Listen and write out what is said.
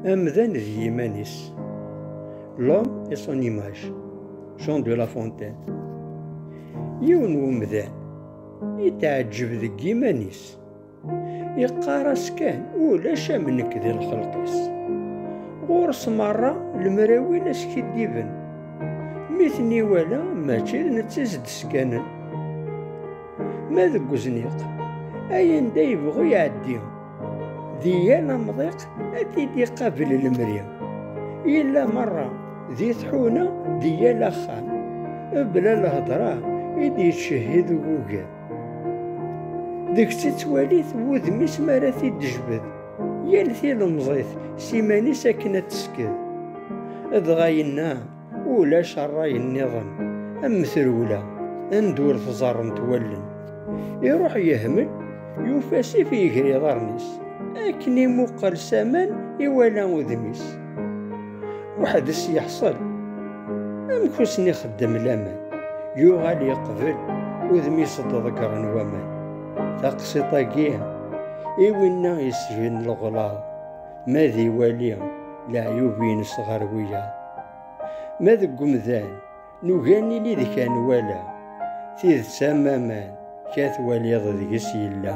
Amdan d yiman-is. L'homme et son image. Jean de La Fontaine. Yiwen umdan yetɛeǧǧeb deg yiman-is. Yeqqar-as kan ulac am nekk di lxelq-is. Ɣur-s merra lemrawin askidiben. Mi ten-iwala mačči d netta i s-d-skanen. Ma deg uzniq, ayen da yebɣu iɛeddi. Di yal amḍiq ad t-id-iqabel lemri. Yella merra di tḥuna di yal axxam. Ebla lhedra i d-yettcehhid uguger. Deg-s ittwali-t wudem-is mi ara t-id-tejbed. Yal tilemẓit s iman-is akken ad tesked. Dɣa yenna. Ulac rray nniḍen am trewla anda ur tẓarrent wallen. Iruḥ yehmel, yufa asif iger iḍarren-is. Akken imuqel s aman iwala udem-is. Weḥd-s yeḥṣel. Amek ur sen-ixeddem laman? Yuɣal yeqbel, udem-is d-ḍeggren waman. Taqsiṭ-agi i winna yesgen leɣlaḍ. Ma d iwali leɛyub-ines ɣer wiyaḍ. Ma deg umdan, nugi ad nili deg kan wala. Tidet am aman, ka twaliḍ deg-s yella.